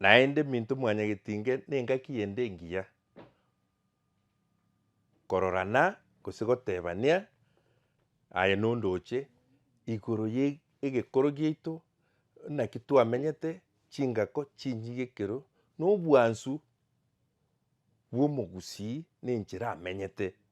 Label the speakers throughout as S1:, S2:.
S1: Naende minto mwanyageti inge nengaki ende engiya, kororana gose gotebania aye nondoche igoro ye egekoro giaito, naki twamenyete, chingako chinyige ekero, nobwansu bwomogusii nenchera amenyete.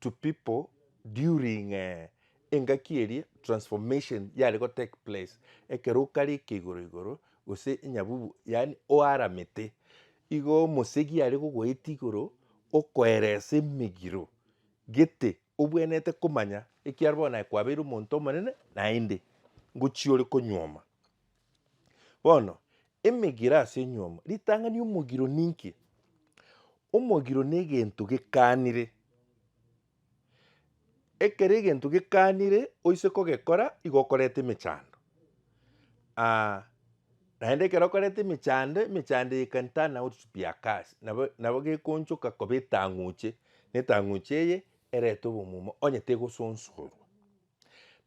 S1: to people during engaki eria transformation yare go take place, ekero okare eke igoro igoro gose enyabubu yaani oaramete, igo omosegi are gogoetia igoro okoeresa emegiro gete obwenerete komanya ekiagera bono naye kwabeire omonto omonene naende ngochia ore konyuoma. Bono, emegiro ase enyuomo. Ritang'ani omogiro ninki? Omogiro negento gekanire. Ekero egento gekanire oise kogekora igo okoreta emechando ah naende ekero okoreta emechando, emechando eye can turn out to be a curse nabo nabo gekonchoka koba etang'uche, na etang'uche eye erete obomumo onye tegosonsorwa.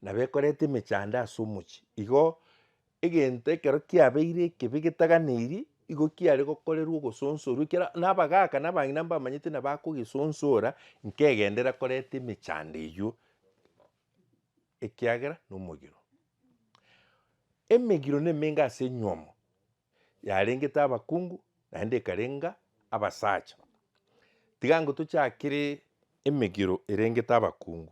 S1: Na bekorete emechando ase omochie. Igo egento ekero kiabeire ekebe getaganeirie, igo kiare gokorerwa ogosonsorwa ekiara na abagaka na abang'ina mbamanyete na bakogesonsora nkegenderera koreta emechando eywo, ekiagera na omogiro. Emegiro na emenge ase enyiomo, yarengete abakungu naende ekarenga abasacha. Tiga ango tochakere emegiro erengete abakungu.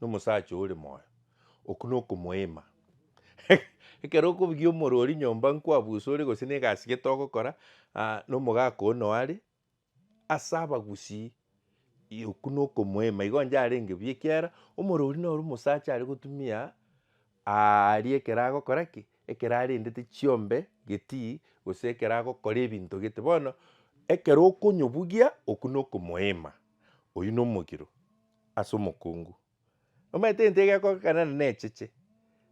S1: Nomosacha ore moyo, okwo nokomoeema. Ekero okobugia omorori nyomba nkwabusore gose negasi gete ogokora, nomogaka oo noo are, ase abagusii okwo nokomoeema igo onye arenge buya ekiagera omorori noro omosacha are gotumia aria ekero agokora ki? Ekero arendete chiombe getii gose ekero agokora ebinto gete. Bono ekero okonyobugia okwo nokomoeema, oywo nomogiro. ase omokungu. Omanyete egento egekogekana na necheche,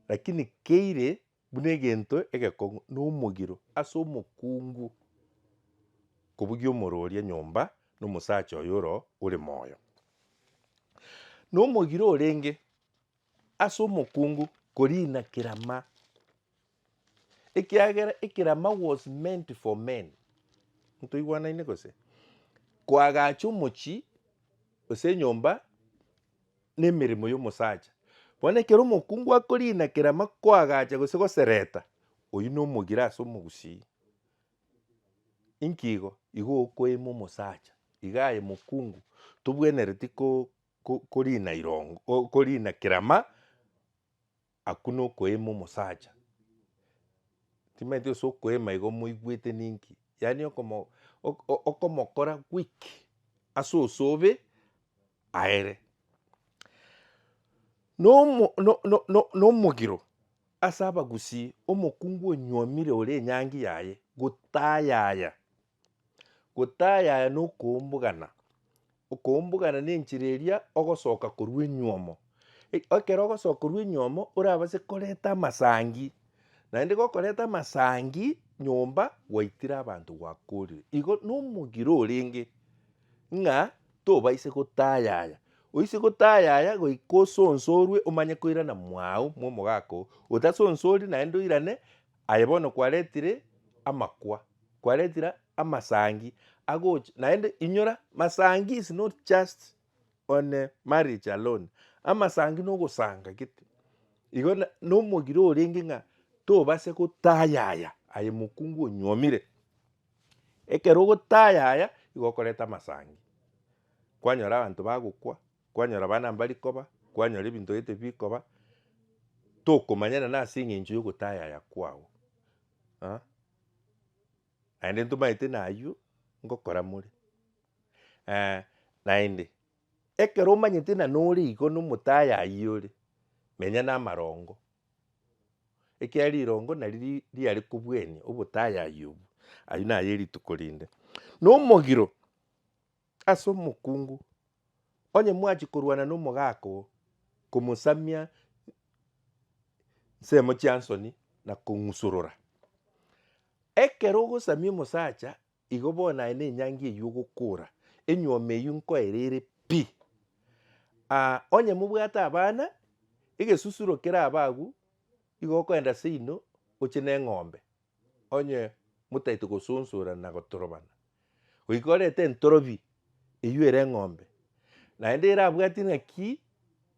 S1: lakini keire buna egento egekong'u na omogiro ase omokungu kobugia omorooria nyomba na omosacha oyo ore moyo. Na omogiro orenge. ase omokungu koriina kerama, ekiagera ekerama was meant for men. Ntoigwanaine gose? Koagacha omochie gose enyomba nemeremo yomosacha. Bono ekero omokungu akoriina kerama koagacha gose gosereta, oyio nomogire ase omogusii. Inki igo? Igo okoeima omosacha, iga aye mokungu tobwenereti ko. ko, korina irongo, o- korina kerama, akwo nokoeema omosacha. Timanyeti gose okoeema igo moigwete ninki, yaani okomo ok- ok- okomokora weak ase osobe aere. Nomo no- no- no- nomogiro ase abagusii, omokungu onyuomire ore enyangi yaye gotayaya. Gotayaya nokoumbugana, okoumbugana nenchera eria ogosoka korwa enyuomo. Ekero ogosoka korwa enyuomo orabase koreta amasangi, naende gokoreta amasangi nyomba gwaitire abanto gwakorire. Igo nomogiro orenge ng'a tobaise gotayaya, oise gotayaya goika osonsorwe omanye koirana mwago mwa omogaka oo, otasonsori naende oirane. Aye bono kwaretire amakwa, kwaretire amasangi agocha, naende inyora masangi is not just on marriage alone, amasangi na ogosanga gete igo na nomogire orenge ng'a tobase gotayaya aye mokungu onyuomire. Ekero ogotayaya igo okoreta amasangi, kwanyora abanto bagokwa. kwanyora abana mbari koba, kwanyora ebinto gete bikoba, tokomanyana nase eng'encho ya ogotayaya kwao ah, naende ntomanyete na aywo ngokora more naende, ekero omanyete na nore igo na omotayayi ore, menya na amarongo, ekiagera rirongo nari ri- riare kobuania obotayayi obwo, aywo naye rituko rinde. Na omogiro, Ase omokungu, onye mwachia korwana nomogaaka oo, komosamia nsemo chiansoni na kong'usorora. Ekero ogosamia omosacha, igo bono aye nenyangi eyio ogokora, enyuoma eyio nkoera ere pi. Onye mobwate abana, egesusuro kerabe agwo, igo okoenda seino oche neng'ombe, Onye motaeti gosunsura na gotorobana, goika orete entorobi eyio ere eng'ombe, naende erabwati ng'aki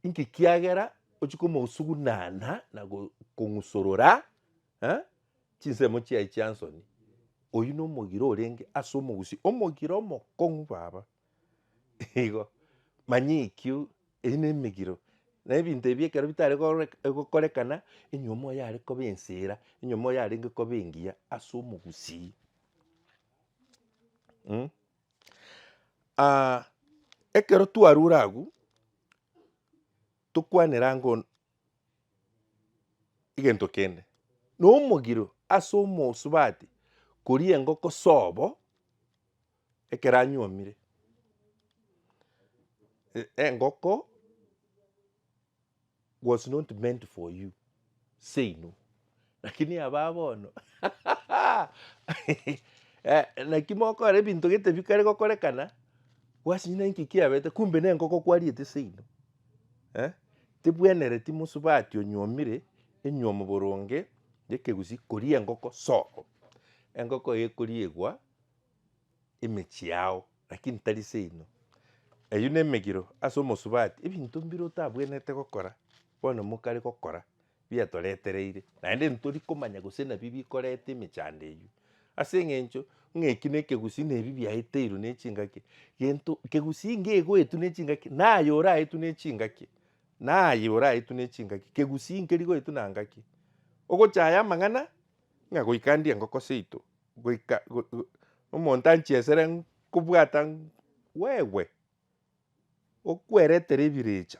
S1: inki kiagera ochia komosugunana na go- kong'usorora eh, chinsemo chiaye chiansoni. Oyio nomogiro orenge ase omogusii, omogiro omokong'u baba. igo, manyekio eye ne emegiro, na ebinto ebi ekero bitare kore gokorekana, enyiomo yare kobe ensera, enyiomo yarenge kobe engiya ase omogusii mh. ekero twarure agwo, tokwanera ango n- egento kende, nomogiro ase omosubati koria engoko sobo. Ekero anyuomire, engoko was not meant for you, seino. Lakini abaa bono naki mokora ebinto gete bikare gokorekana, gwasinyire nki kiabete, kumbe nengoko kwariete seino. Tibwenereti mosubati onyuomire enyuomo boronge ya ekegusii koria engoko soo. Engoko eye ekoriegwa emechie yao lakini tari seino. Eyio nemegiro ase omosubati ebinto mbire otabwenerete gokora bono mokare gokora biatoretereire naende ntori komanya gose nabi bikoreta emechando eyio ase eng'encho ng'a eki ne ekegusii na ebi biaeteirwe ne chingaki gento kegusii iga egoetwa ne chingaki naye oraetwe ne chingaki naye oraetwe ne chingaki kegusii nkeri goetwa na ngaki. Ogochaya amang'ana ng'a goika ndie engoko seito. goika omonto anchie esere nkobwata wewe okweretere ebirecha,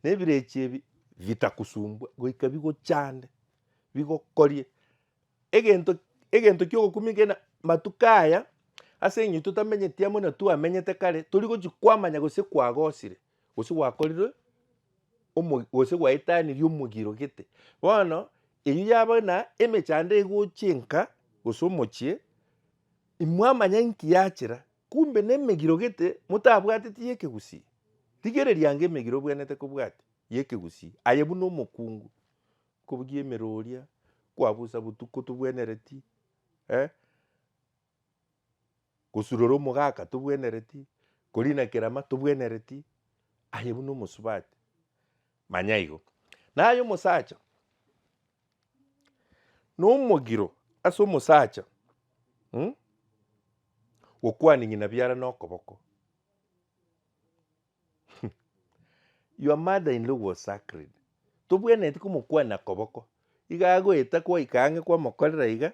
S1: na ebirecha ebi bitakosumbua goika bigochande bigokorie egento egento kiogokumia kegena matuko aya ase eng'encho totamenyeti amo na twamenyete kare torigochi kwamanya gose kwagosire gose gwakorire omo gose gwaetanirie omogiro gete. Bono eyio yaba na emechando egochia enka gose omochie imwamanya inki yachera kumbe na emegiro gete motabwateti ya ekegusii. Rigereria ange emegiro obwenerete kobwatia ya ekegusii aye buna omokungu kobugia emeroria kwabusa botuko tobwenereti eh. Gosurora omogaka tobwenereti, korina kerama tobwenereti, aye buna omosubati. Manya igo. Naye omosacha nomogiro ase omosacha mm, gokwaning'ina biara nokoboko your mother in law was sacred tobwenereti komokwania koboko iga agoeta kwaika ang'e kwamokorera iga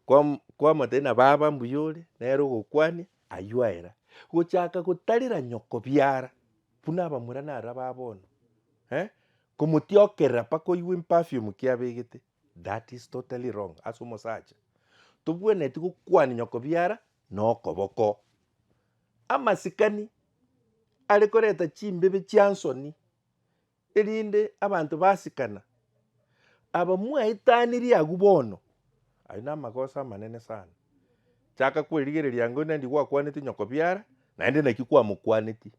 S1: kwam- kwamotebia na baba mbuya ore, nere ogokwania, aywo aera. Gochaka gotarera nyoko biara, buna abamura naro aba bono, eh, komotiokerera mpaka oigwe emperfume ki abegete, that is totally wrong ase omosacha. Tobwenereti gokwania nyoko biara na okoboko. Amasikani, are koreta chimbebe chia nsoni. erinde abanto basikana, aba mwaetanirie agwo bono, ayio namagoso amanene sana, chaka kwerigereria ang'e oyonde nandi gwakwaneti nyoko biara, naende naki kwamokwaneti,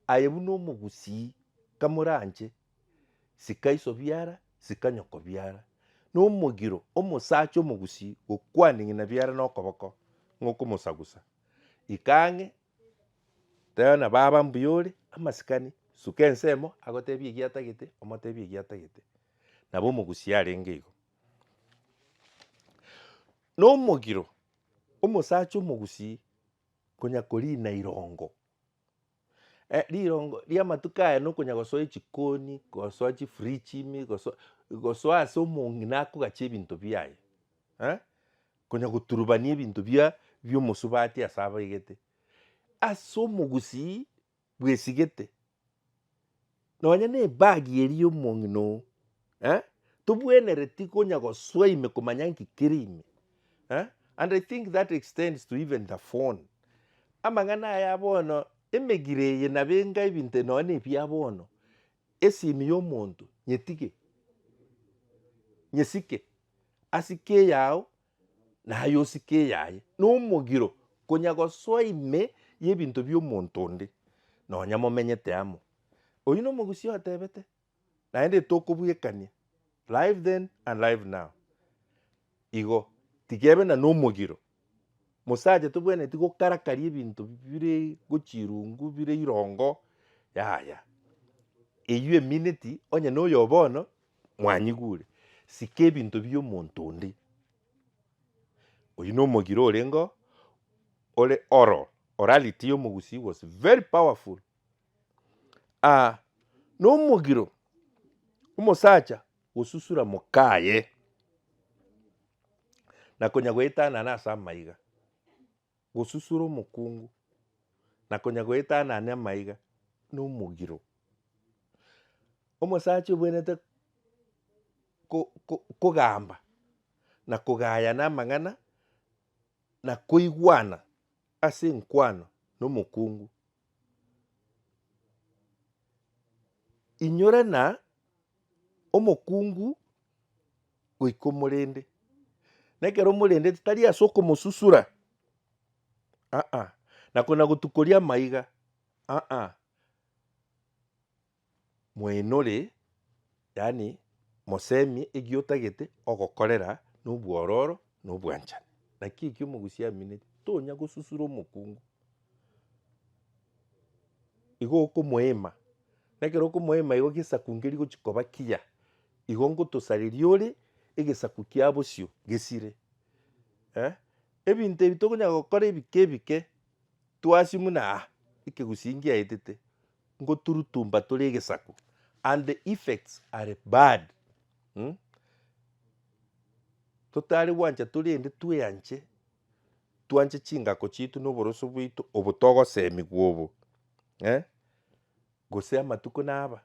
S1: aye buna omogusii kamoranche, sika iso biara, sika nyoko biara, nomogiro omosacha omogusii gokwana ng'ina biara nokoboko ng'okomosagusa, ika ang'e Tebia buna baba mbuya ore amasikani, suka ensemo agotebie egiatagete omotebie egiatagete. Nabo omogusia arenge igo. Na omogiro, omosacha omogusii konya korina irongo, eh rirongo ria amatuko aya na okonya gosoa echikoni, gosoa chifridge ime, gosoa gosoa ase omong'ina akogachie ebinto biaye eh. Konya goturubania ebinto bia bi'omosubati ase abaigete, ase omogusii bw'esigete, nonya nebagi eria y'omong'ina oo eh, tobwenereti konya gosoa ime komanya nki kere ime eh, and I think that extends to even the phone. Amang'ana aya bono, emegire eye nabo enga ebinto nonya na ebia bono, Esimi y'omonto nyetige, nyesike, asike eyao, naye osike eyaye. Nomogiro konya gosoa ime y'ebinto bi'omonto onde, nonya momenyete amo. Oyio nomogusia otebete, naende tokobuekania, live then and live now. Igo, tigebe na nomogiro Mosacha tobwenereti gokarakaria ebinto bire gochirungu bire irongo yaya eywo emineti onye noyo bono mwanyigure sike ebinto bia omonto onde oywo no omogire orengo ore oral orality ya omogusii was very powerful ah nomogiro omosacha. Gosusura mokaye, na konya goetanana ase amaiga. Gosusura omokungu, na konya goetanane amaiga na omogiro. Omosacha obwenerete ko- ko- kogamba na kogayana amang'ana na koigwana ase enkwano na omokungu. Inyore na omokungu goika omorende, na ekero omorendeti tari ase okomosusura, ah ah, na kona gotukoria amaiga, ah ah. Mwaenore, yaani mosemie egiotagete ogokorera nobwororo na obwanchani. Naki ekio omogusi amineti, tonya gosusura omokungu. Igo okomoema, na ekero okomoema igo gesaku nge rigochi koba kiya, igo ngotosareria ore egesaku kia bosio gesire. Ebinto ebi tokonyara gokora ebike ebike, twasie buna ah, ekegusii ngiaetete, ngoturutumba tore egesaku and the effects are bad mm? totari gwancha torende tweanche twanche chingako chitu na oboroso bwaito obo togosemigwa obo eh? gose amatuko naba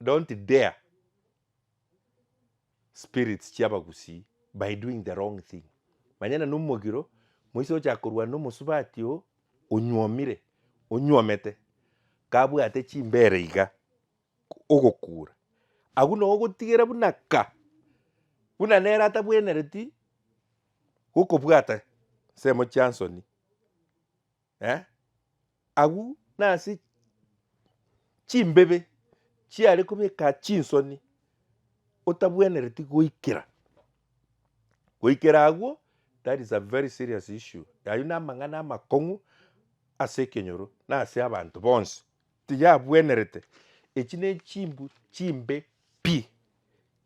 S1: Don't dare spirits chia abagusii by doing the wrong thing. Manyana na omogiro moise ochaka korwana na omosubati oo onyuomire, onyuomete, kabwate chimbere iga ogokura. Agwo noo ogotigera buna ka, buna nere atabwenereti gokobwata nsemo chia nsoni. Agwo nase chimbebe chiare kobeka chinsoni otabwenereti goikera, goikera agwo that is a very serious issue ayio namang'ana amakong'u ase ekenyoro na ase abanto bonsi tiyabwenerete echi ne chimbu chimbe pi,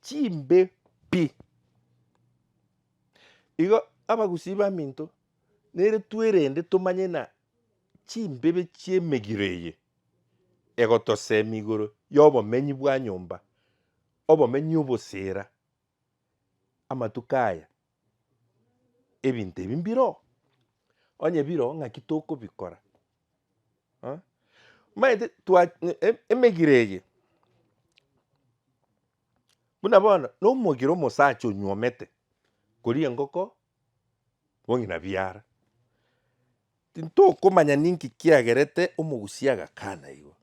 S1: chimbe pi. Igo abagusii baminto. Nere twerende tomanye ng'a chimbibe chi'emegiro eye egotosemi igoro y'obomenyi bwa nyomba, obomenyi obosera amatuko aya. Ebinto ebi mbiro, onye biro ng'aki tokobikora? Aa? Omanyete twa e- emegiro eye buna bono nomogiro omosacha onyuomete koria engoko bong'ina biara. Tintokomanya ninki kiagerete omogusia agakana igo.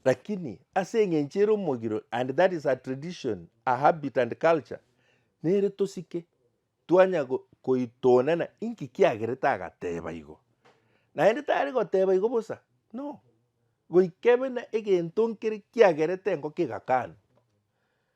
S1: Lakini ase eng'encho ere omogiro and that is a tradition, a habit and culture, nere tosike twanya go- koitonana inki kiagerete agateba igo. Naende tari goteba igo bosa, no, goika buna egento nkere kiagerete engoko egakana.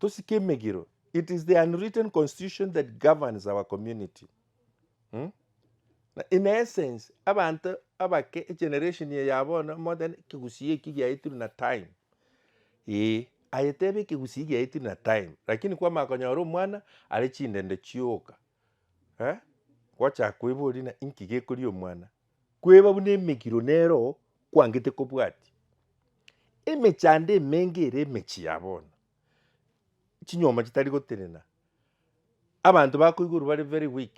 S1: Tosike emegiro, it is the unwritten constitution that governs our community. In essence, abanto abake egeneration eye ya bono more than ekegusii eki giaetirwe na time. Ee, aye tebe ekegusii giaetirwe na time, lakini kwamanya konyora omwana are chindende chioka gochaka koiboria ng'a inki gekoria omwana. Kweba buna emegiro nero kwangete kobwatia. Emechando emenge ere emechie ya bono, chinyomba chitari gotenena, abanto bakoigorwa bare very weak,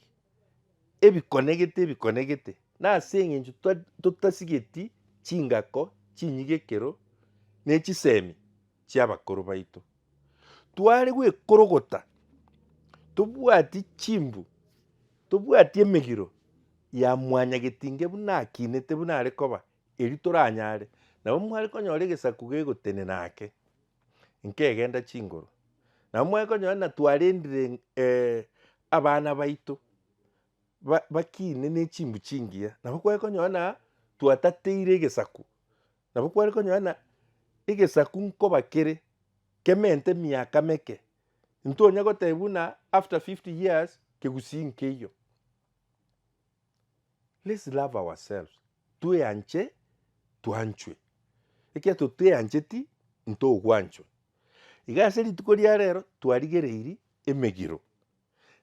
S1: ebikonegete ebikonegete. Nase eng'encho totasigeti chingako chinyige ekero ne chisemi. chi'abakoro baito. Tware gwekorogota tobwati chimbu, tobwati emegiro ya mwanyagetinge buna akinete buna are koba, erio toranyare nabo mware konyora egesaku gegotenena ake nkegenda chinguru. Nabo mware konyora buna twarendire abana baito bakine ne chimbu chingiya, nabo kware konyora buna twatateire egesaku Nabo kware konyora ng'a egesaku nkoba kere kemente emiaka meke, ntonya goteba buna after fifty years kegusii nkeiyo. Let's love ourselves, tweanche twanchwe, ekiagera toteancheti ntogwanchwa. Iga ase rituko ria rero twarigereiri emegiro,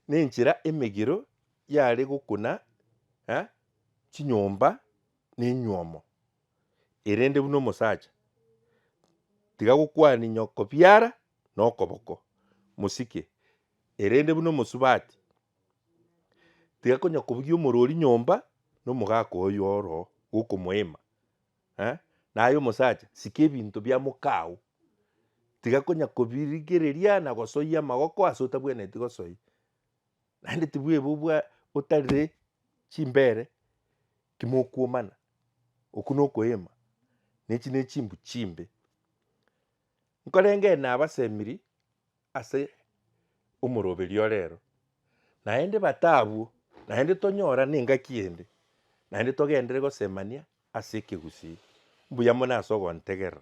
S1: na enchera emegiro yare gokuna chinyomba na enywomo. erende buna omosacha, tiga gokwania nyoko biara na okoboko, mosike, erende buna omosubati, tiga konya kobugia omorwori nyomba na omogaka oye oro gokomoema, eh, naye omosacha, sika ebinto bia mokao, tiga konya kobirigereria na gosoyia amagoko ase otabwenereti gosoyia, naende tibwebubwa otarire chimbere. Timokuomana, okwo nokoeema, na echi nechimbu chimbe. Nkorengee nabasemiri ase omoroberio orero, naende bata abwo, naende tonyora nengaki ende, naende togenderere gosemania ase ekegusii. Mbuya mono ase ogontegerera.